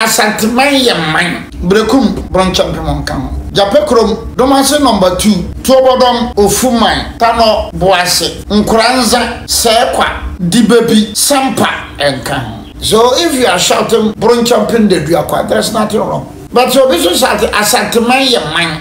Asanteman yɛ man. Berekum, Bronkyɛmpe monka ho. Gyapɛ kurom, Domase nɔmba tuu, Tuobɔdɔm, Ofuman, Tanɔ, Boase, Nkoranza, Sɛɛkwa, Dibebi, Sampa nka ho. So if you are shouting Bronkyɛmpe Ndadua kwa there's nothing wrong but sɛ obi nso shout Asanteman yɛ man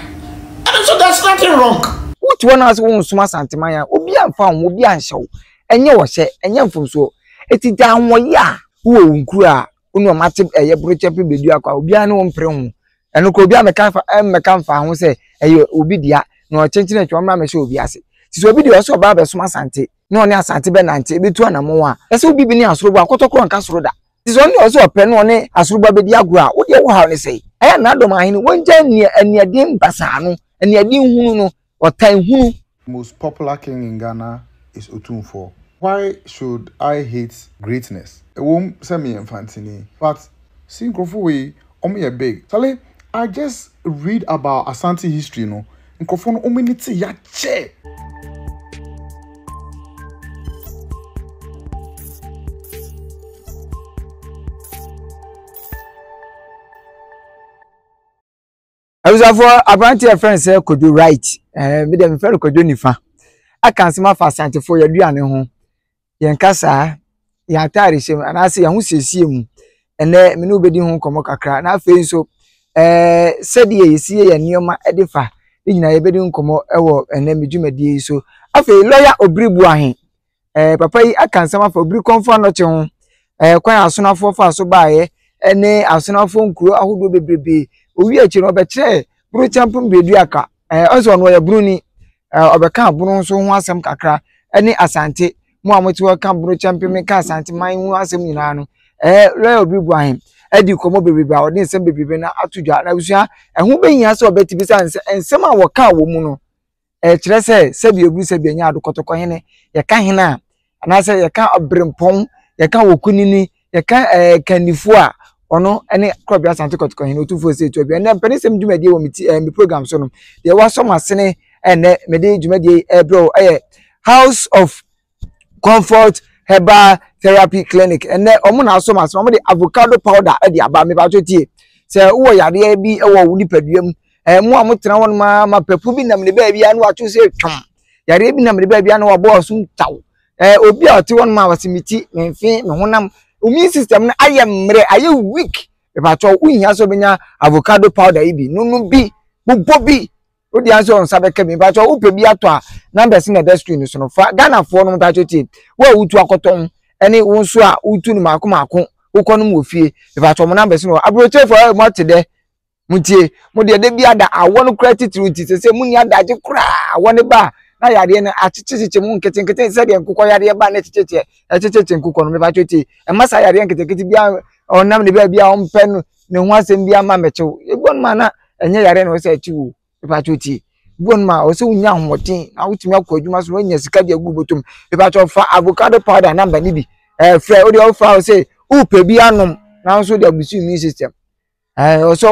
ɛno nso there's nothing wrong. Wote hɔ na wose wonsom Asanteman a, obi amfa wo ho, obi anhyɛ wo, ɛnyɛ ɔhyɛ, ɛnyɛ mfomsoɔ. Enti gyae ahoɔyɛ a wowɔ wo nkuro a wonu wɔn ate ɛyɛ borokyɛ pe bɛdu akɔ a obiara ne wɔn mpere ho ɛno kora obi amɛka fa ɛmmɛka mfa ho sɛ ɛyɛ obi dea na ɔkyenkyene atwa ɔmmra mɛhyɛ obi ase te sɛ obi deɛ ɔsɛ ɔbaa bɛsom asante na ɔne asante bɛnante ɛbɛtu anamɔn a ɛsɛ obi bi ne asorobo akɔtɔkorɔ nka soro da te sɛ ɔne ɔsɛ ɔpɛ na ɔne asorobo bɛdi agorɔ a wodeɛ wo haw ne sɛe ɛyɛ na adɔm ahene wɔngya aniaden basaa no aniaden hunu no Ɔtan hunu. Most popular king in Ghana is Otumfoɔ. Why should I hate greatness? Ɛwom sɛ meyɛ mfantini but see nkurɔfo wei wɔn yɛ big. Charlie I just read about Asante history no nkurɔfo no wɔn ani te yakyɛ. abusuafoɔ aberanteɛ yɛfrɛ no sɛ kodwo right ɛɛ eh, me deɛ mefrɛ no kodwo nifa aka nsɛm afa asantefoɔ yɛaduane ho yɛn kasaa yɛn ataare hyɛ mu anaasɛ yɛn ho siesie mu ɛnɛ me ne wobɛdi ho nkɔmmɔ kakra na afei nso ɛɛ eh, sɛdeɛ yɛsi yɛ yɛn nneɛma de fa ne nyinaa yɛbɛdi nkɔmmɔ wɔ ɛnɛ me dwumadie yi so afei lɔya obiribu ahe Ɛɛ papa yi aka nsɛm afa obiri kɔnfo anɔkye ho, ɛɛ kwan asonafoɔ fa so baeɛ, ɛne asonafoɔ nkuro ahodoɔ bebrebe. Owie akyire no, ɔbɛkyerɛɛ Burokyɛmpo Mbeduaka, ɛɛ ɔsɛ ɔno ɔyɛ Buroni, ɛɛ ɔbɛka Bono nso ho asɛm kakra, ɛne Asante. Mo a mote hɔ ka Burokyɛmpe me ka Asante man ho asɛm nyinaa no, ɛɛ Lɔya Obiri Boahen adi nkɔmmɔ bebrebe a ɔde nsɛm bebrebe no ato dwa. Na abusua, ɛho bɛhia sɛ ɔbɛte bi sɛ nsɛm a wɔkaa wɔ mu no, ɛkyerɛ sɛ sɛbi obi sɛbi ɛnyɛ ado kɔtɔkɔ hene yɛka hene a anaasɛ yɛka ɔbrempɔn yɛka wɔkunini yɛka ɛɛ kandifoɔ a ɔno ne korɔbea asante kɔtɔkɔ hene otumfoɔ sɛ etu abia ɛnna mpanisɛm dwumadie wɔ me ti ɛɛ me program so no deɛ wasɔ mo asene ɛnɛ mede dwumadie ɛbrɛ o ɛyɛ house of comfort herbal therapy clinic ɛnɛ wɔn na asɔ m'asɛm wɔn de avocado powder de aba mipatso tie sɛ wowɔ yadeɛ bi wɔ wo nipadua mu ɛɛ mo a mo tena hɔ nom ara ma pɛpo bi nam ne baabi a na wato sɛ twam yadeɛ bi nam ne baabi a na wabɔ ɔso ntaw ɛɛ obi a ɔte hɔ nom a wɔsi mi ti mi nfe mi honam immune system no ayɛ mmerɛ ayɛ weak mipatso wohia sɛ ɔbɛnya avocado powder yi bi nunu bi bobɔ bi. o deɛ ansa wɔn nsa bɛka bi mpatsɔ o pɛ bi atɔ a numbers na ɛda screen no so no fa ghanafoɔ no mpatsɔ tie wo a wotu akɔtɔn ɛne wo nso a wotu no mako mako wokɔ nom wɔ fie mpatsɔ mo numbers no aburokyerɛfoɔ ɛyɛ mo ate dɛ mo tie mo deɛ ɛdɛ bi ada awɔ no kura titiriw nti sɛ sɛ mo ni adagye koraa awɔ ne ba na yadeɛ no akyekyekyekye mu nketenkete sɛdeɛ nkokɔ yadeɛ ba na ɛkyekyekyɛ ɛkyekyekyɛ nkokɔ no mpatsɔ tie ɛma saa yadeɛ nketenkete bi a ɔnam ne baabi a ɔmpɛ no ne ho asɛm bi ama mɛkyew ebi wɔn ma na ɛnyɛ yare na ɔsɛ akyi wo epatsɔ tie ebi wɔn ma ɔsɛ wonya ahoɔden na wotumi akɔ adwuma so na wonya sika de agu bɔtɔm epatsɔ fa avocado powder namba ne bi ɛɛ fɛ o deɛ ɔfa ɔsɛ wopɛ bi anom nanso de abusu immune system ɛɛ ɔsɛ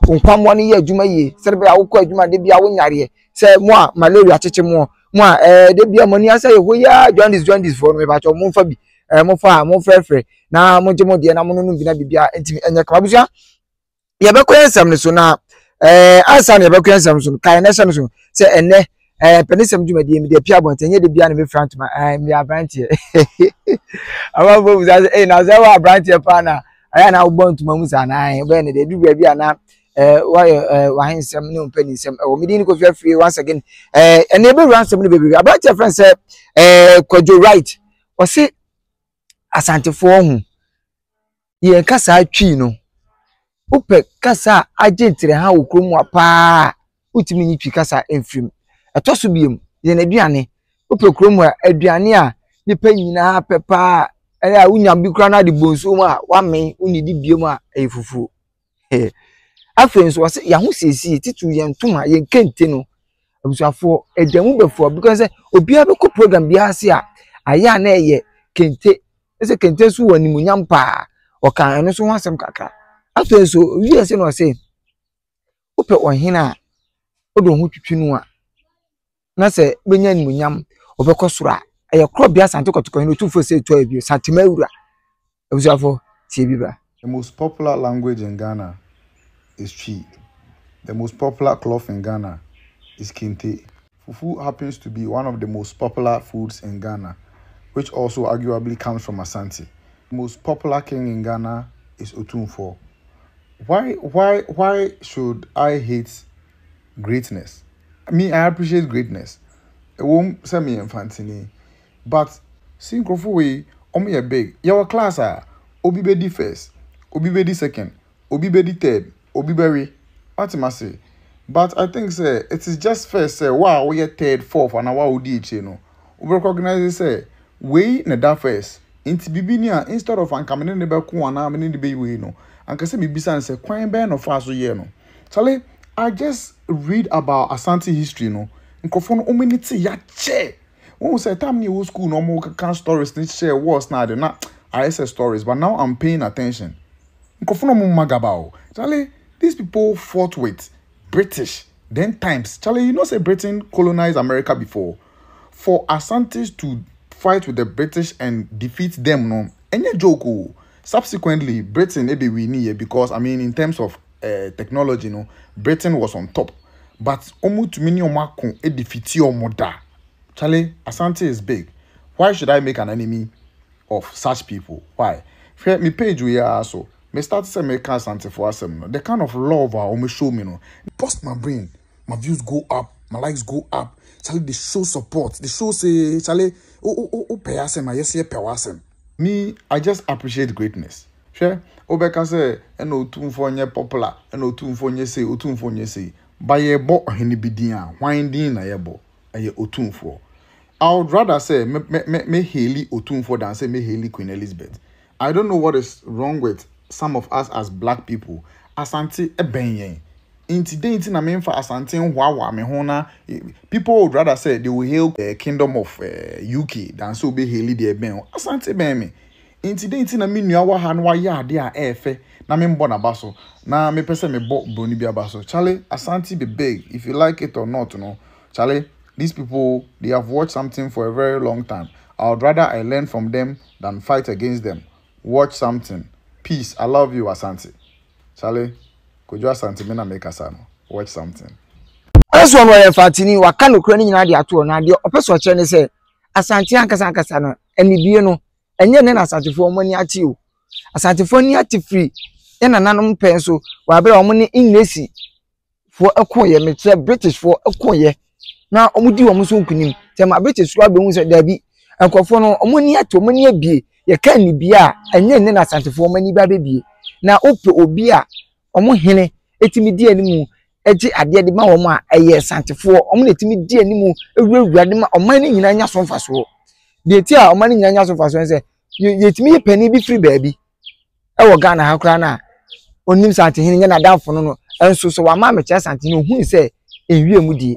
o nkwamoa no yɛ adwuma yie sɛde bɛyɛ awokɔ adwuma de bi awo nyareɛ sɛ mo a malaria kyekye mo mo a ɛɛ de bi a mo ani asɛ yɛ hɔ yaa jaundice jaundice foɔ no epatsɔ mo nfa bi ɛɛ mo fa a mo frɛfrɛ na mo gye mo deɛ na mo nonom bi na biribi a ntumi ɛnyɛ kama abusua yɛbɛkɔ yɛn nsɛm no so na ɛɛ ansa na yɛbɛkɔ yɛn nsɛm no so no kae na ɛhyɛ no so sɛ ɛnɛ ɛɛ pɛnisɛm dwumadie mi deɛ pia abɔnten nyɛ de bia na mi fira ntoma ɛɛ mi aberanteɛ amanfo bisa sɛ ɛɛ na sɛ ɛwɔ aberanteɛ paa na ɛyɛ na wobɔ ntoma mu saa na ɛɛ bɛyɛ ne deɛ edu baabi a na ɛɛ wayɛ ɛɛ wahe nsɛm ne mpɛ ne nsɛm ɛwɔ mi di ne kofi afiri once again ɛɛ ɛnna ebɛwura nsɛm no bebree aberanteɛ fɛn sɛ ɛɛ kwadwo right. Ɔse Asantefoɔ ɔho. Yɛn kasaa Twi no, wopɛ kasa a agye nterɛha wɔ kurom mu a paa a, wotumi nyi Twi kasa mfiri mu. Ɛtɔ so biom, yɛn aduane, wopɛ kurom mu a, aduane a nnipa nyinaa pɛ paa a, ɛyɛ a wonya bi koraa na wode bɔ nsuo mu a, woamen, wonnidi biom a, ɛyɛ fufuo. Afei nso wɔsi yɛn ahosiesie titiriw yɛn ntoma yɛn kente no abusuafoɔ ɛda mu bɛfoɔ because sɛ obiara bɛkɔ program biara ase a ayɛ a na ɛyɛ kente ɛsɛ kente nso wɔ animuonyam paa ɔka ɛno nso ho asɛm kakra afei nso owie ɛsɛ na ɔsɛ wopɛ ɔhene a wode wo ho twitwi no a. na sɛ wobɛnya animuonyam, wobɛkɔ soro a, ɛyɛ korɔ bea Asante Kɔtɔkɔhene Otumfoɔ Osei Tuah I, Santem Awura. Abusuafoɔ, tie bi bra. The most popular language in Ghana is Twi. The most popular cloth in Ghana is Kente. Fufu happens to be one of the most popular foods in Ghana, which also arguably comes from Asante. The most popular king in Ghana is Otumfoɔ. Why, why, why should I hate greatness? Me I appreciate greatness ɛwom sɛ meyɛ mfantini but see nkurɔfo wei wɔn yɛ big yɛwɔ class a obi bɛdi first obi bɛdi second obi bɛdi third obi bɛwe wate m'ase but I think sɛ it is just first sɛ wo a woyɛ third fourth anaa wo a wodi akyire no wo recognize sɛ wei na ɛda first nti biribi ni a instead of anka me ne ne bɛko anaa me ne ne bɛyi wei no anka sɛ mebisa no sɛ kwan bɛn na ɔfaa so yɛɛ no. Charlie, I just read about Asante history no. Nkurɔfoɔ no, wɔn ani te yakyɛ. Wɔn sɛ time na yɛwɔ school na wɔn keka stories ne share wars na ade na ayɛ sɛ stories but now I'm paying attention. Nkurɔfoɔ no wɔn magaba o. Charlie, these people fought with British then times. Charlie, you know say Britain colonized America before. For Asantes to fight with the British and defeat them no, any joke o. Subsequently, Britain ebe winnie because I mean in terms of eh, technology no britain was on top but wɔtumi ne wɔn ako de fiti wɔn da charlie asante is big why should i make an enemy of such people why hwɛ me page wei ara so me start sɛ meka asantefoɔ asɛm no the kind of love a wɔn show me no bust my brain my views go up my likes go up charlie they show support they show say charlie o o o pɛ asɛm a yɛsɛ yɛpɛ wɔ asɛm me i just appreciate greatness. Hwɛ, wobɛka sɛ, 'Ɛna Otumfoɔ nyɛ popular, ɛna Otumfoɔ nyɛ sei, Otumfoɔ nyɛ sei. Ba yɛrebɔ ɔhene bi din a, hwan din na yɛbɔ? Ɛyɛ Otumfoɔ. I would rather sɛ me me me me haili Otumfoɔ than sɛ me haili Queen Elizabeth. I don't know what is wrong with some of us as black people, Asante bɛn yɛn, nti dɛn nti na memfa Asante nhoahoa me ho na people would rather sɛ they will hail eh, Kingdom of eh, UK than sɛ wobɛhaili deɛ ɛbɛn wo. Asante bɛn me. Enti dɛn nti na me nua wɔ ha na wayɛ ade a ɛyɛ fɛ na memmɔ n'aba so? Na mepɛ sɛ mebɔ buroni bi aba so. Charlie, Asante be big if you like it or not no, Charlie, these people, they have watched something for a very long time. I would rather I learn from them than fight against them. Watch something. Peace, I love you, Asante. Charlie, Kojo Asante me na mekasa no. Watch something. Ɛsoɔ no ɔyɛ mfaatini, waka nokorɛ no nyinaa de ato hɔ, na deɛ ɔpɛ sɛ ɔkyerɛ ne sɛ Asante ankasa ankasa no, anibue no, Ɛnyɛ nnɛ na Asantefoɔ wɔn ani ate o. Asantefoɔ ani ate firi yɛn nananom pɛn so wɔ abere a wɔn ne Englishfoɔ ɛkoeɛ, mekyerɛ Britishfoɔ ɛkoeɛ na wɔn di wɔn so nkunim. Sɛ ma British koraa bɛhu sɛ daabi, nkurɔfoɔ no wɔn ani ate, wɔn ani abie. Yɛka nnibea a, ɛnyɛ nnɛ na Asantefoɔ wɔn ani ba bɛbie. Na wopɛ obi a wɔn hene tumi di anim gye adeɛ de ma wɔn a ɛyɛ santefoɔ wɔn na ɛtumi di anim wurawura de ma ɔman no nyinaa nya so mfasoɔ deɛ ti a ɔman no nyinaa nya so mfasoɔ no sɛ yɛtumi yɛ panin bi firi baabi ɛwɔ ghana ha koraa no a ɔnim santehene nyɛ n'adamfo no no nso sɛ wama amekyerɛ santehene ɔhunu sɛ ɛnwie mu die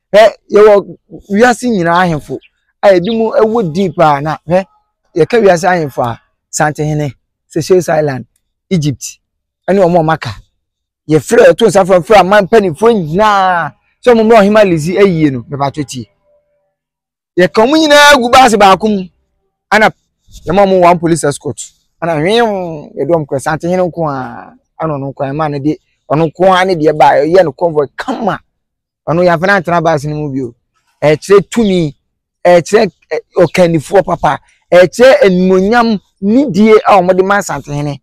Hwɛ, yɛwɔ wiase nyinaa ahemfo a ebinom wɔ din paa na hwɛ, yɛka wiase ahemfo a, Santehene, Seychelles Island, Egypt ne wɔn a wɔaka. Yɛfrɛ yɛto nsa frɛ frɛ aman mpanimfoɔ nyinaa sɛ wɔmmra Ɔhemmaa Lizzie ayie no, mepatwo tie. yɛka wɔn nyinaa gu baase baako mu ɛna yɛma wɔn one police escort ɛna hwɛɛm yɛde wɔn kɔ asante hene nko ara ɛna ɔno nko ara ɛma ne de ɔno nko ara ne deɛ baa yɛyɛ no convoy kama ɔno yɛn afɛn atena baase no mu bio ɛkyerɛ tumi ɛkyerɛ ɔkannifoɔ papa ɛkyerɛ animonyam nidie a wɔde ma asante hene.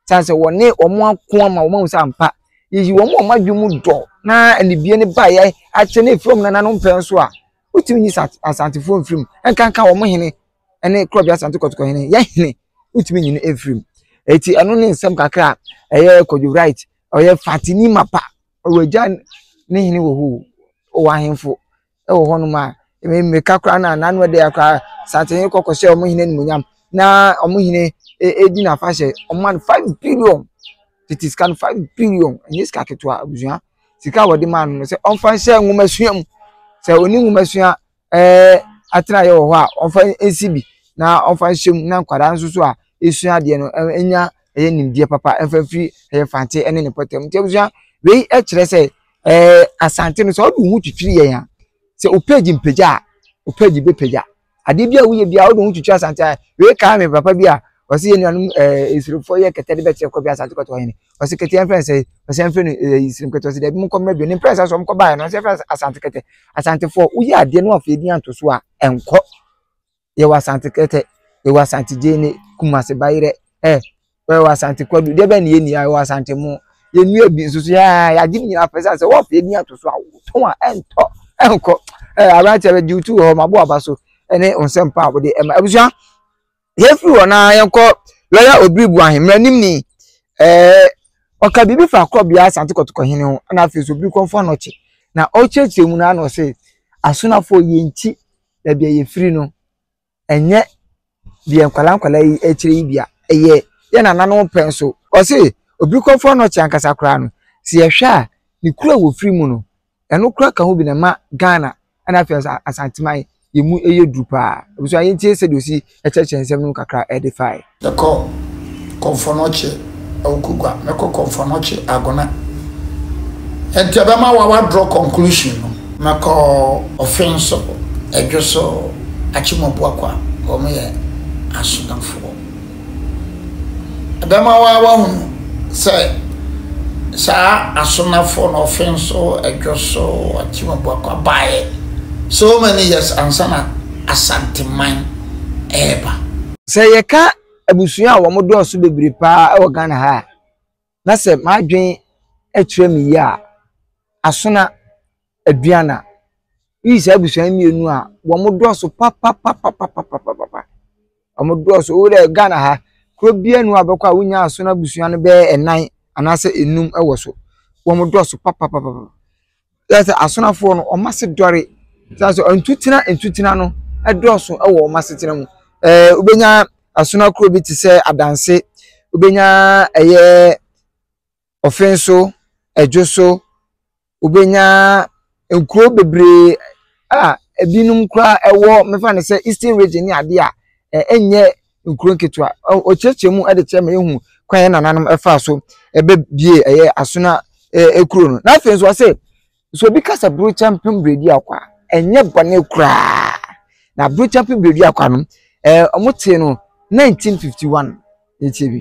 Sane sɛ wɔne wɔn ako ama wɔn ahu sɛ ampa yɛyi wɔn a wɔn adwene mu dɔ na anibie no baeɛ akyɛ ne efiri wɔn nananom pɛn so a wotumi nyi asantefoɔ mfirim nkanka wɔn hene ne korɔbea asante kɔtɔkɔ hene yɛ hene wotumi nyi no mfirim eti ɛno ne nsɛm kakra a ɛyɛ kɔdwo right ɔyɛ fatini mapa ɔwɔ agya ne hene wɔ hoo ɔwɔ ahemfo wɔ hɔnom a, ɛmi mmirika koraa no a n'ano yɛ den ara koraa, Asantehene kɔ kɔhyɛ wɔn hene animuonyam na wɔn hene di n'afahyɛ. Wɔma no five billion, tete sika no, five billion, ɛnyɛ sika ketewa abusua. Sika a wɔde maa no no, sɛ ɔmfa nhyɛ nwomasua mu. Sɛ ɔnni nwomasua ɛɛɛ atenaeɛ wɔ hɔ a, ɔmfa nsi bi na ɔmfa nhyɛ mu na nkwadaa nso so a ɛresua adeɛ no ɛnya ɛyɛ nimdeɛ papa ɛmfa mfiri ɛyɛ Mfantse ne ne mpɔtam. Nti abusua, wei kyerɛ sɛ. Ɛɛ Asante no sɛ ɔde wo ho twitwiri yɛn a, sɛ wo page mpagya a, wo page bɛpagya. Adeɛ bi a woyɛ bi a wode wo ho twitwiri Asante a, wei kae me papa bi a ɔse yɛ nuanom ɛɛ Nsirimfoɔ yɛ kɛtɛ de bɛkyerɛ kɔ bi Asante kɔtɔ hene. Ɔse kɛtɛ yɛmfrɛ no sɛ, ɔse yɛmfrɛ no ɛɛ Nsirim kɛtɛ, ɔse daabi monkɔ mmra bio. Ne mprɛnsa so wɔkɔbaeɛ no, ɔse yɛmfrɛ no Asante kɛtɛ. Asantefoɔ, woyɛ adeɛ na woamfa yɛn din anto so a, ɛnkɔ. yɛwɔ asante kɛtɛ yɛwɔ asante gyeene kumase bayerɛ ɛ yɛwɔ asante kwadu deɛ bɛn na yɛnni a yɛwɔ asante mo yɛnnua bi nso so yɛa yɛagye ne nyinaa pɛ sɛ sɛ wɔpɛ yɛdi ato so a wotɔn a ɛntɔ ɛnkɔ ɛ aberanteɛ bɛgye wotu wɔ hɔ ma bo aba so ɛne nsɛm pa a wode ɛma abusua yɛfiri hɔ na yɛnkɔ lɔya obiri bu ahemmera nim ni ɛɛ ɔka biribi fa kɔbea asante kɔtokɔ hene ho ɛna afei so obiri kɔmfo anɔkye na ɔkyerɛkyerɛ mu na ano ɔse asonafoɔ yɛnkyi baabi a yɛfiri no, ɛnyɛ deɛ nkwadaa nkwadaa yi rekyerɛ yi dea, ɛyɛ yɛn nananom pɛ nso. Ɔse, obi kɔfɔ nɔkye ankasa koraa no, sɛ yɛhwɛ a, ne kuro a wɔfiri mu no, ɛno koraa ka ho bi na ɛma Ghana ɛna afei nso Asanteman, yɛn mu yɛ duru paa. Abusua yɛntie sɛdeɛ ɔsi. Kyerɛkyerɛ nsɛm no mu kakra de fae. Mɛkɔ Kɔmfɔnɔkye Awukogwa, mɛkɔ Kɔmfɔnɔkye Agona. Ɛnti ɛbɛma wawa draw conclusion no. Mɛkɔ Ɔfen so, Ɛdwo so, Akyemɔbuakwa, wɔn yɛ Asonafoɔ. Ɛbɛma waa wahunu sɛ saa Asonafoɔ no, Ɔfen so, Ɛdwo so, Akyemɔbuakwa, baeɛ so many years ansa na. Asanteman reba. Sɛ yɛka abusua a wɔn dɔɔso bebree paa wɔ Ghana ha a, na sɛ m'adwene kyerɛ me yie a, Asona, Aduana. Woyi saa abusua yi mmienu a, wɔn dɔɔso papapapapapapapa. Wɔn dɔɔso. Wo dɛ Ghana ha, kuro biara nni hɔ a wobɛkɔ a wonnya Asona abusua no bɛyɛ nnan anaasɛ nnum wɔ so. Wɔn dɔɔso papapapapa. Kyerɛ sɛ asrafoɔ no wɔn ase dɔre. Kyerɛ sɛ ntutena ntutena no dɔɔso wɔ wɔn asetena mu. Ɛɛ wobɛnya asono akuro bi te sɛ Adanse, wobɛnya ɛyɛ Ɔfɛnso, Ɛdwoso, wobɛnya nkuro bebree a ɛbinom koraa ɛwɔ mɛfa no sɛ Eastern Region ne adeɛ a ɛnyɛ nkuro nketewa. Ɔkyerɛkyerɛ mu de kyerɛ ma yɛhu kwan yɛn nananom faa so bɛbie ɛyɛ Asona kuro no. Na afei nso ɔse, sɛ obi ka sɛ Burokyɛmpem Berɛduakwa a, ɛnyɛ bɔne koraa. Na Burokyɛmpem Berɛduakwa no, ɛɛ wɔtee no 1951 ɛkyɛ bi.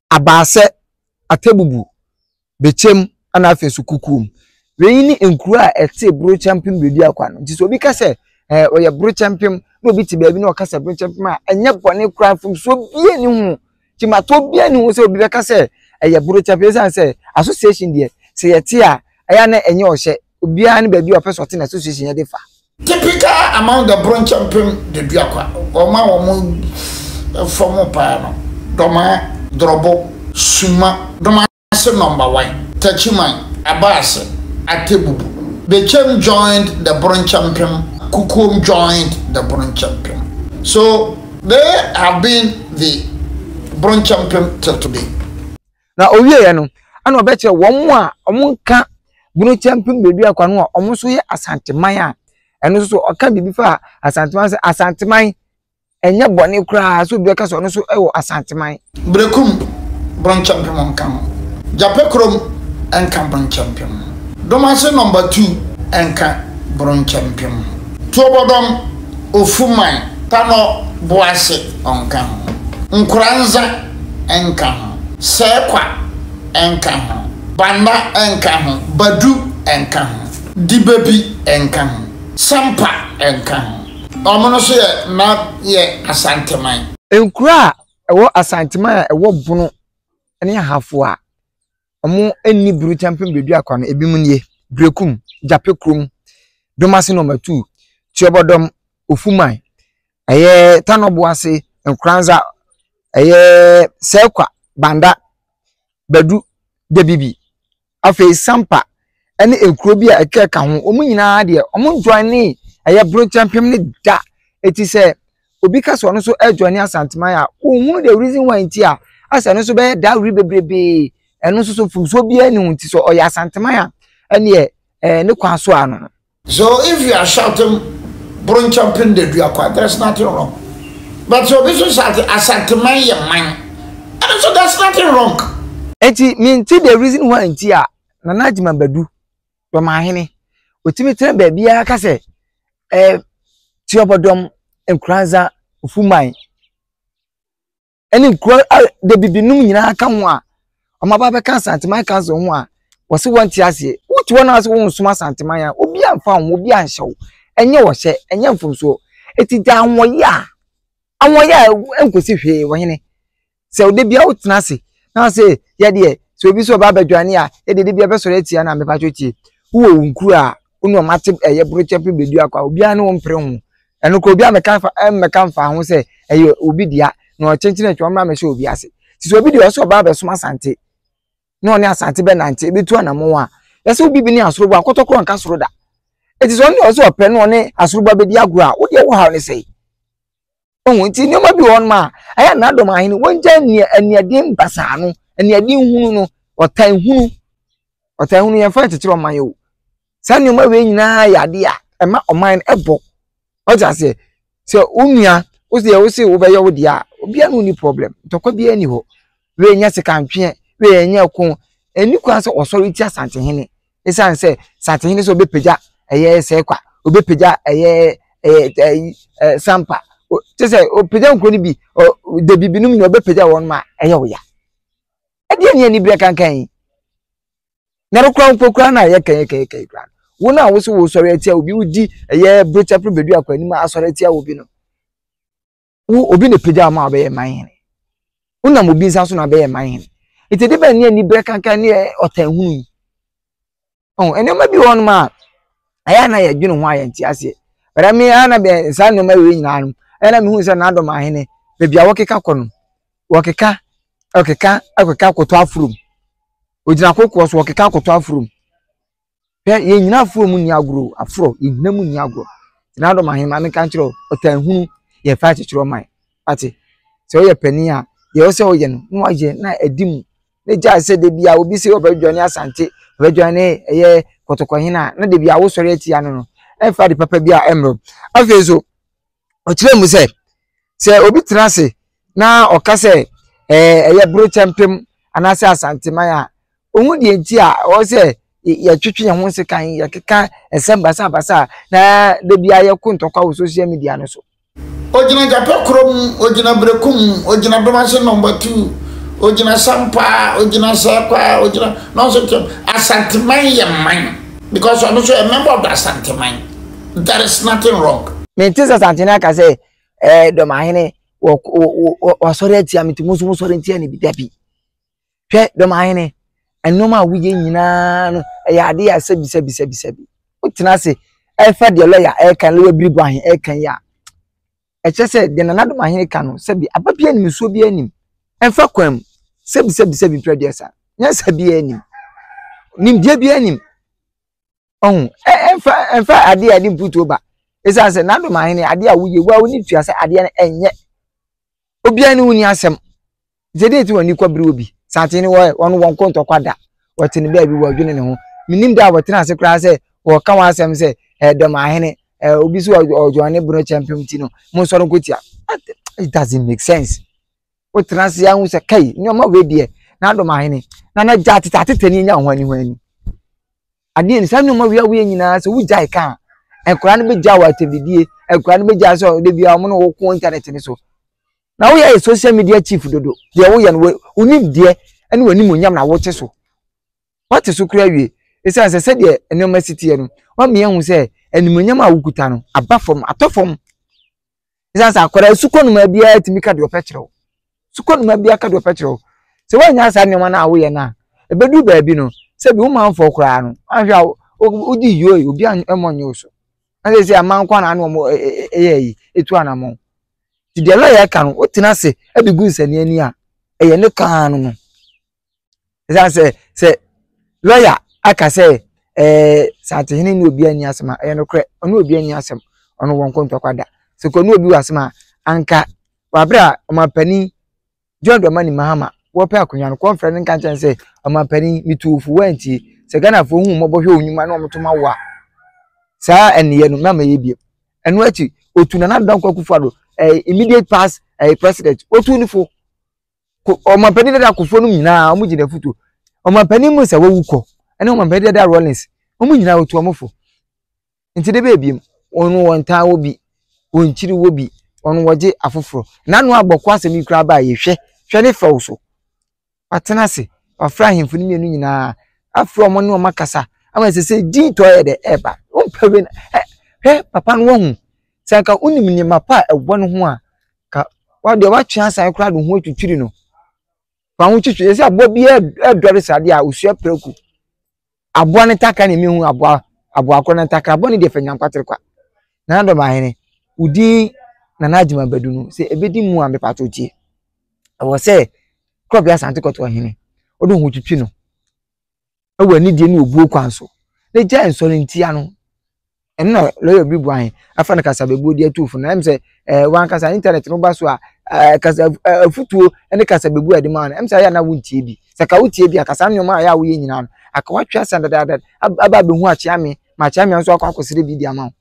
Abaasɛ, Atebubu, Bekyem ɛna afei nso Kukuom. Wei ne nkuro a ɛte Borokyɛmpem Bɛduakwa no. Nti sɛ obi ka sɛ ɛɛ ɔyɛ Borokyɛmpem na obi te baabi na ɔka sɛ Borokyɛmpem a ɛnyɛ bɔne koraa mfomsoɔ bie ne ho. Gyimatoɔ bie ne ho sɛ obi bɛka sɛ ɛyɛ Borokyɛmpem ɛsiane sɛ association deɛ sɛ yɛte a ɛyɛ na ɛnyɛ ɔhyɛ Obiara ne baabi a ɔpɛ sɛ ɔte na association yɛ de fa. Typical among the Bronkyɛ mpem Daduakwa, wɔn a wɔn fam paa no, Dɔmaa, Drɔbo, Suma, Domase Number One, Takyiman, Abaase, Atebubu, Bekyem joined the Bronkyɛ mpem, Kukuom joined the Bronkyɛ mpem. So they have been the Bronkyɛ mpem till today. Na ɔwieeɛ no, ɛna ɔbɛkyerɛ wɔn a wɔka bunu kyɛmpem baabi akwa no a wɔn nso yɛ asanteman a ɛno nso so ɔka biribi fa asanteman sɛ asanteman ɛnyɛ bɔne koraa sɛ obi bɛka sɛ ɔno nso wɔ asanteman. Berekum bronkyɛmpem nka ho. Gyapɛ kurom nka bronkyɛmpem ho. Domase nɔmba tu nka bronkyɛmpem ho. Tuobɔdɔm, Ofuman, Tanɔ, Boase ɔnka ho. Nkoranza nka ho, Sɛɛkwa nka ho, Banda nka ho, Badu nka ho, Dibabi nka ho, Sampa nka ho. Wɔn no so yɛ na yɛ Asanteman. Nkuro a ɛwɔ Asanteman a ɛwɔ Bono ne Ahafo a wɔnni Burukyampem Beduakwa no ebinom nie, Berekum, Gyapekurom, Domasenɔma Tuu, Tuobɔdɔm, Ofuman, Ɛyɛ Tano Boase, Nkoranza, ɛyɛ Serkwa, Banda, Badu, Dabibi, afei Sampa ne nkuro bi a ɛka ɛka ho. Wɔn nyinaa deɛ, wɔn joine ɛyɛ Bronkyɛmpem no da. Eti sɛ obi ka sɛ ɔno nso ɛjoine Asanteman a, wɔnhunu the reason why nti a asɛ ɛno nso bɛyɛ dawere bebrebe. Ɛno nso so mfomsoɔ biara ni ho nti sɛ ɔyɛ Asanteman a, ɛneɛ ɛɛ ne kwan so a no no. So if you are shouting Bronchopin de dua kwa, there's nothing wrong. But sɛ obi so shouting Asanteman yɛ man, ɛno so there's nothing wrong. Enti mente the reason why nti a Nana Agyeman Badu, Dɔmahene, otumi tena baabiara ka sɛ eh, Tiɔbɔdɔm, Nkoranza, Ufuman. ɛne nkuro dabibi nom nyinaa ka ho a wɔn aba abɛka asanteman council ho a wɔsi wɔn ti aseɛ wotu wɔn ase wɔn nsoma asanteman a obi anfa ho obi anhyɛ wo ɛnyɛ wɔhyɛ ɛnyɛ mfomsoɔ eti gya ahoɔyɛ a ahoɔyɛ a nkosi hwee wɔhene sɛ ɔde bia wotena ase na ɔsɛ yɛdeɛ sɛ obi sɛ ɔba abɛdwane a yɛde de bia bɛsɔrɔ atia na mepatwo tie wowɔ wo nkuro a wonu wɔn ate ɛyɛ borokyɛ pe bɛdu akɔ a obiara ne wɔn mpere ho ɛno kɔ obi amɛka fa ɛmmɛka mfa ho sɛ ɛyɛ obi dea na ɔkyenkyene atwa ɔmmra mɛhyɛ obi ase te sɛ obi deɛ ɔsɛ ɔbaa bɛsom asante na ɔne asante bɛnante ɛbɛtu anamɔn a yɛsɛ obi bi ne asorobo akɔtɔkorɔ nka soro da ɛte sɛ ɔne ɔsɛ ɔpɛ na ɔne asorobo abɛdi agorɔ a wodeɛ wo haw ne sɛe Ohun nti nneɛma bi wɔ hɔnom a ɛyɛ n'adom ahene wɔngya nea aniɛden basaa no aniɛden hunu no ɔtan hunu ɔtan hunu yɛn fa kyekyere ɔman yɛ o saa nneɛma wei nyinaa yɛ ade a ɛma ɔman no ɛbɔ ɔte aseɛ sɛ wo nua wo sɛ wo se wobɛyɛ wo deɛ a obiara ne ɔni problem ntɔkwa biara ni hɔ wei nyɛ sekantweɛ wei nyɛ ko ɛni kwan sɛ ɔsɔre tia asantehene ɛsiane sɛ saatehene sɛ ɔbɛpagya ɛyɛ sɛkwa ɔbɛpagya ɛyɛ ɛyɛ sampa te sɛ ɔpagya nkuro no bi da bibinom nyina ɔbɛpagya wɔn ma ɛyɛ wo ya ɛdeɛ ne aniberɛ kankan yi na ɛrekora mpo kora no a yɛkɛyɛkɛyɛkɛyɛ kora no wo no a wo so wosɔre atia obi wodi ɛyɛ brotapere bɛdu akɔ anim asɔre atia obi no wo obi na pagya ama ɔbɛyɛ man hene wonam obi nsa so na bɛyɛ man hene nti de bɛn ne aniberɛ kankan ne ɔtanhunu yi ɔn nneɛma bi wɔ hɔnom a ɛyɛ a na yɛdwene ho a yɛnte aseɛ bɛrɛ me a na bɛ saa nneɛma wei nyinaa no ɛyɛ na mehu sɛ n'adɔm ahene baabi a wɔkeka kɔ no wɔkeka wɔkeka wɔkeka kɔtɔ aforom ogyina kokoɔ so wɔkeka kɔtɔ aforom Hwɛ, yɛn nyina aforɔ mu nni agorɔ o, aforɔ, yɛn nyina mu nni agorɔ. Tena adom ahe ma menka nkyerɛ wo, ɔtaa hunu yɛ fa akyekyerɛ ɔman. Wate, sɛ woyɛ panin a, deɛ ɛwɔ sɛ woyɛ no, na woayɛ na adi mu. Na gyae sɛ da biara obi sɛ ɔbɛdwane asante, ɔbɛdwane ɛyɛ kɔtɔkɔhene a, na da biara wosɔre atia no no. Ɛmfa ade papa biara mmrɛ wo. Afei nso, ɔkyerɛɛ mu sɛ, sɛ obi tena ase na ɔka sɛ ɛyɛ Borokyɛmpem anaasɛ Asanteman a, ohun deɛ nti a ɛwɔ sɛ yɛtwetwe yɛn ho nsekan, yɛkeka nsɛm basabasa a na da biara yɛko ntɔkwa wɔ social media no so. Ogyina gyapɛ korɔ mu, ogyina berɛku mu, ogyina dɔm ase nɔmba tu, ogyina sampaa, ogyina sɛɛkwaa, ogyina nɔnso kyɛm. Asanteman yɛ man because ɔno nso yɛ member of the Asanteman. There is nothing wrong. Mente sɛ Santene aka sɛ eh, dɔmahene wasɔre atia me nti mo nso mosɔre ntia ne bi da bi. Hwɛ dɔmahene, nneɛma a woyɛ nyinaa no ɛyɛ ade a sɛbisɛbisɛbisɛbi. Wotena ase ɛfa deɛ lɔya ɛka lɔya biri bɔ ahe ɛka yi a ɛkyɛ sɛ deɛ nana dɔmahene ka no sɛbi aba bi anim nsuo bi anim ɛmfa kwan mu sɛbisɛbisɛbi mpira deɛ sa nyɛ sɛ bi anim nimdeɛ bi anim ɔho ɛmfa ɛmfa adeɛ a ɛde mputuo ba ɛsiane sɛ n'adom ahene adeɛ a woyɛ wo a woni tua sɛ adeɛ no ɛnyɛ obiara ne woni asɛm nti ɛdeɛ ti wɔn kɔ bere wɔ bi santen no wɔyɛ wɔn wɔn kɔntɔ kwa da wɔte ne baabi wɔdwene ne ho menim da a wɔtena ase koraa sɛ wɔka wɔn asɛm sɛ ɛdɔm ahene ɛɛ obi so ɔdwɔn ne bono kyɛmpem ti no mo nsɔre nkotia it doesn't make sense. wotena ase ahu sɛ kai nneɛma wei deɛ n'adom ahene na na gya atete atete ne nya ho ani ho ani adeɛ ni saa nneɛma wei a woyɛ nyinaa sɛ wogyae ka a nkwadaa no bɛgya wɔ atɛmdidie nkwadaa no bɛgya sɛ ɔde bia wɔn na wɔko internet ne so na woyɛ yɛ social media chief dodo deɛ woyɛ no wonim deɛ ɛne wɔn anim nyam na wote so wɔte so kura wie ɛsiane sɛ sɛdeɛ nneɛma si teɛ no wɔn mmea hu sɛ animonyam a wokuta no aba fam atɔ fam ɛsiane sɛ akwadaa asukɔnoma biara tumi ka deɛ ɔpɛ kyerɛ wo sukɔnoma biara ka deɛ ɔpɛ kyerɛ wo sɛ woannya saa nneɛma no a woyɛ no a ɛbɛduru baabi no sɛ bi womanfoɔ koraa no ahwɛ a wodi yio yi obi ammɔ nyɛ wo so na sɛ sɛ aman kwan na ano wɔn ɛyɛ yi etu anamɔ ti deɛ lɔya ɛka no wotena ase ɛde gu nsɛnni ani a ɛyɛ ne kan no no. ɛsiane sɛ sɛ lɔya aka sɛ ɛɛ eh, santehene ne obi ani asɛm a ɛyɛ nokorɛ ɔne obi ani asɛm ɔno wɔn nkontɔkwa da sɛ kɔ ne obi wɔ asɛm a anka wɔabrɛ a ɔmampanin john dramani mahama wɔpɛ akonnwa no kɔnfrɛ no nka nkyɛn sɛ ɔmampanin metu ofu wɔantie sɛ ghanafoɔ hu mmɔbɔ hwɛ wɔn nnwuma na wɔn to ma wo a saa ɛneyɛ no mɛma yɛ biem ɛno akyi otu nana dankwa kufa do ɛɛ eh, immediate past ɛɛ eh, president otu ne fo ɔmampanin dada akufo no nyinaa wɔn gye n'afutuo ɔmampanin mu sɛ wawu kɔ ɛne ɔmampanin dada rollins wɔn nyinaa wɔtu wɔn fo nti de bɛɛbi mu wɔn wɔn taa wɔ bi wɔn kyiri wɔ bi wɔn wɔgye afoforɔ n'ano abɔko asɛm yi koraa baa yɛhwɛ hwɛ ne fɛw so watena ase wafra ahemfo no mmienu nyinaa afra wɔn ne wɔn akasa ama ɛsɛ sɛ din tɔ yɛ dɛ ɛɛba wɔn pɛ wei na ɛ hwɛ papa no wɔn ho sɛ nka wɔn nim nneɛma pa a ɛwɔ ne ho a. Ka wa deɛ watwe asan koraa de ho atwitwiri no fa ho twitwi ɛsɛ aboa bi ɛdɔre saa deɛ a osua prɛko aboa ne takra ne mehu aboa aboa korɔ ne takra aboa ne deɛ fɛ nyankwatere kwa nana dɔm ahene wodin nana agyima bɛdu no sɛ ɛbɛdi mu a mepɛ ato tie ɛwɔ sɛ korɔ bi asante kɔto ɔhene wode ho twitwi no wɔ anidie ne obuo kwan so na gyae nsɔre ntia no. Ɛno na lɔya bi bua he, afa no kasabebuo de atu fo no. Ɛm sɛ ɛɛ wankasa intanɛt no ba so a ɛɛ kasa afutuo ne kasabebuo a yɛde ma no, ɛm sɛ ayɛ a na wontie bi. Sɛ ka wotie bi a, ka saa nneɛma a ɛyɛ a woyɛ nyinaa no, aka woatwe asa dadaada aba abɛhu Akyeame ma Akyeame nso akɔ akɔsrɛ bi de ama wo.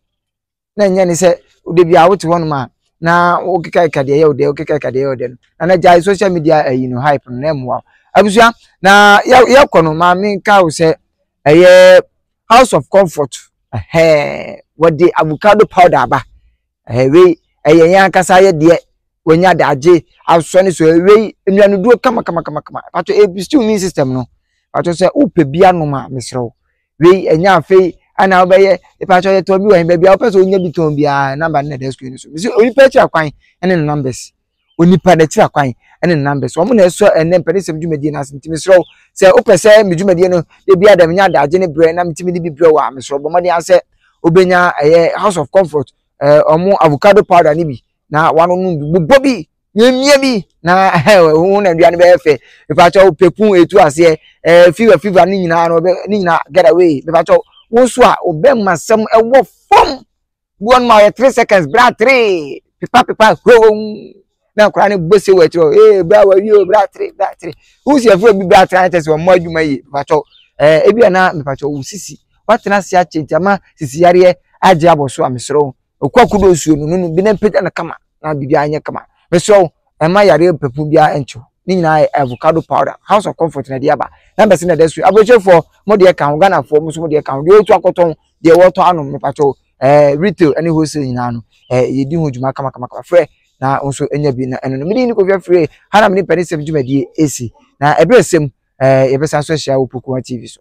na ɛnyɛ ne sɛ da biara wote hɔnom a na wokekakeka deɛ ɛyɛ wo dɛ wokekakeka deɛ ɛyɛ wo dɛ no na na gyae social media ayi eh, no hype no na ɛmmoa wo abusua na yɛkɔ no ma menka wo sɛ ɛyɛ eh, house of comfort ɛhɛɛ wɔde avocado powder aba ɛhɛ eh, wei ɛyɛ yɛn ankasa yɛ deɛ wɔnya daagye asɔ ne so ɛwei nnuanoduro kama kama kama kama pato ebi stew immune system no pato sɛ wopɛ bi anom a mesrɛ wo Wei ɛnyɛ afei ana wobɛyɛ ɛpakyɛ yɛ tɔn bi wɔ he baabi a wopɛ sɛ onya bi tɔn biara namba no na ɛda screen no so mesɛ onipa akyira kwan ɛne ne numbers onipa na akyira kwan ɛne ne numbers wɔn na ɛsɔ ɛnɛ mpɛnisɛm dwumadie no ase nti mesrɛ wo sɛ wopɛ sɛ me dwumadie no ebi ada menya adagye ne berɛ na metumi de bi berɛ wɔ a mesrɛ bɔ mmɔden asɛ wobɛnya ɛyɛ house of comfort ɛɛ wɔn avocado powder ne bi na wɔanonom bi bobɔ bi yɛmmie bi na wo na aduane bɛyɛ fɛ mepakyɛw pɛpun ɛtu aseɛ eh, fever fever ne nyinaa no ne nyinaa get away mepakyɛw wo nso a wobɛma sɛm ɛwɔ fam bi wɔn ma ɔyɛ three seconds bra three pepa pepa hwewom na akora ne bɔ se wɔ akyirɛ ee bra wɔ yi o bra three bra three wo si afuro bi bra three ankyɛ sɛ wɔn mo adwuma yi mepakyɛw eh, ebi a na mepakyɛw wo sisi watena ase akyɛ nti ama sisi yareɛ agye abɔ so a mesoro Okua kudo nsuo no nunu bi na mpagya no kama na biribiara nyɛ kama. Mesrɛ wo mma yareɛ pɛpuu biara nnkye wo. Ne nyinaa yɛ avocado powder. House of Comfort na ɛde aba. Numbers na ɛda so yi. Aburokyirifoɔ mo deɛ ka ho, Ghanafoɔ mo nso mo deɛ ka ho. Deɛ ɔretu akɔtɔn, deɛ wɔretɔ anom mepakyɛ wo ɛɛ retail ne wholesale nyinaa no ɛɛ yɛdi ho dwuma kamakamakama. Frɛ na wo nso nya bi na ɛno no. Me din ne Kofi Afire. Ha na me ne Mpanisɛm dwumadie ɛsi. Na ɛberɛ sɛm ɛɛ yɛbɛsan so ahyia wɔ Pokuwa TV so.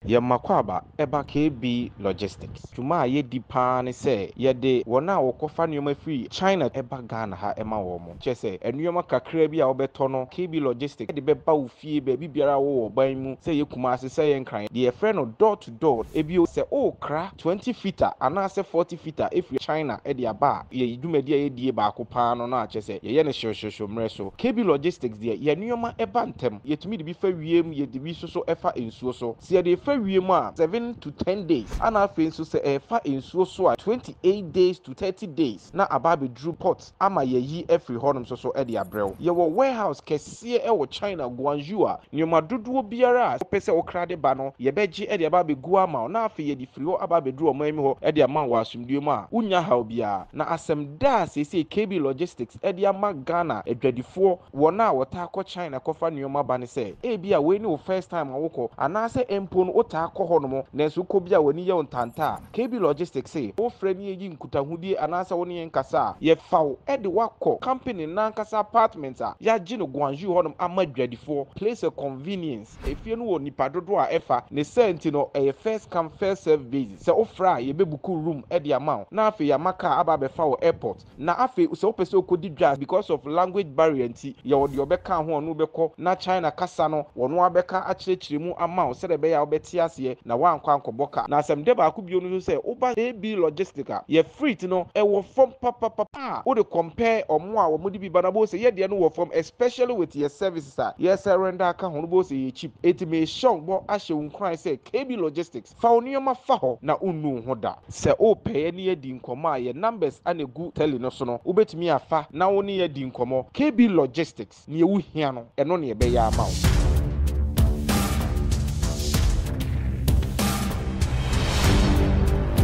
Yɛn Makwaba ba KB Logistics. Dwuma a yɛdi pa ara ne sɛ yɛde wɔn a wɔkɔfa nneɛma firi China ba Ghana ha ma wɔn. Kyerɛ sɛ, nneɛma kakraa bi a wobɛtɔ no, KB Logistics de bɛba wo fie baabi biara a wowɔ ɔman yi mu, sɛ ɛyɛ Kumasi, sɛ ɛyɛ Nkran, deɛ yɛfrɛ no door to door. Bio, sɛ worekra twenty fitter anaasɛ forty fitter afiri China de aba a, yɛn dwumadie a yɛdie baako pa ara no no a, kyerɛ sɛ, yɛyɛ no hyew-hyew-hyew mmerɛ so. KB Logistics deɛ, yɛn nneɛma ba ntɛm. Yɛtumi de bi fa wiem, yɛde bi nso so fa nsuo. nsuo so. Sɛ yɛde fa wiem a, seven to ten days, ɛna afei nso sɛ ɛrefa nsuo so a, twenty eight days to thirty days na aba abɛduru port ama yɛayi afiri hɔnom nso so de abrɛ wo. Yɛwɔ warehouse kɛseɛ wɔ China, Guangzhou a nneɛma dodoɔ biara a wopɛ sɛ wokra de ba no, yɛbɛgye de aba abɛgu ama wo na afei yɛde firi hɔ aba abɛduru ɔman mu hɔ de ama wo wɔ asomdwoeɛ mu a wonnya haw biara. Na asɛm da a seesei KB Logistics de ama Ghana adwadifoɔ, Wɔn a wɔtaa kɔ China kɔfa nneɛma ba no sɛ, ebia wei ne wo first time a wokɔ, anaasɛ mpo no wotaa kɔ hɔnom nanso wokɔ bi a w'ani yɛ wo ntanta a, KB Logistics se, wofrɛ na yeyi nkutahodie anaasɛ wo ne yɛn kasa a, yɛfa wo de wo akɔ company no ankasa apartment a yɛagye no Guangzhou hɔnom ama adwadifoɔ, place a convenience. Efie no wɔ nnipa dodoɔ a ɛfa, ne saa nti no ɛyɛ first come first serve basis, sɛ wofrɛ a yɛbɛbuku room de ama wo na afei yɛama kaa aba abɛfa wo airport. Na afei sɛ wopɛ sɛ okodi dwa because of language barrier nti, yɛwɔ deɛ ɔbɛka ho a ɔne wo bɛkɔ na China kasa no ɔno ara bɛka akyerɛkyerɛ mu ama wo sɛdeɛ ɛbɛyɛ a wobɛte aseɛ na woankɔ ankɔbɔ ka. Na asɛmdɛ baako bio no nso sɛ woba AB Logistic a, yɛ freight no ɛwɔ fam papapapa a wode compare wɔn a wɔde bi ba no a wobɛhu sɛ yɛ deɛ no wɔ fam especially with yɛ services a yɛsɛ render aka ho no wobɛhu sɛ ɛyɛ cheap. Enti merehyɛ wo bɔ ahyɛ wo nkuran sɛ KB Logistics, Fa wo nneɛma fa hɔ na wonnu wo ho da. Sɛ wopɛ yɛ ne yɛadi nkɔmmɔ a, yɛn numbers na ɛgu tele no so no, wobɛtumi afa na wo ne yɛn adi nkɔmmɔ. KB Logistics, neɛ wo hia no, ɛno na yɛbɛyɛ ama wo.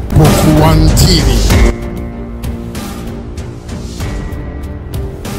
Kpokua TV.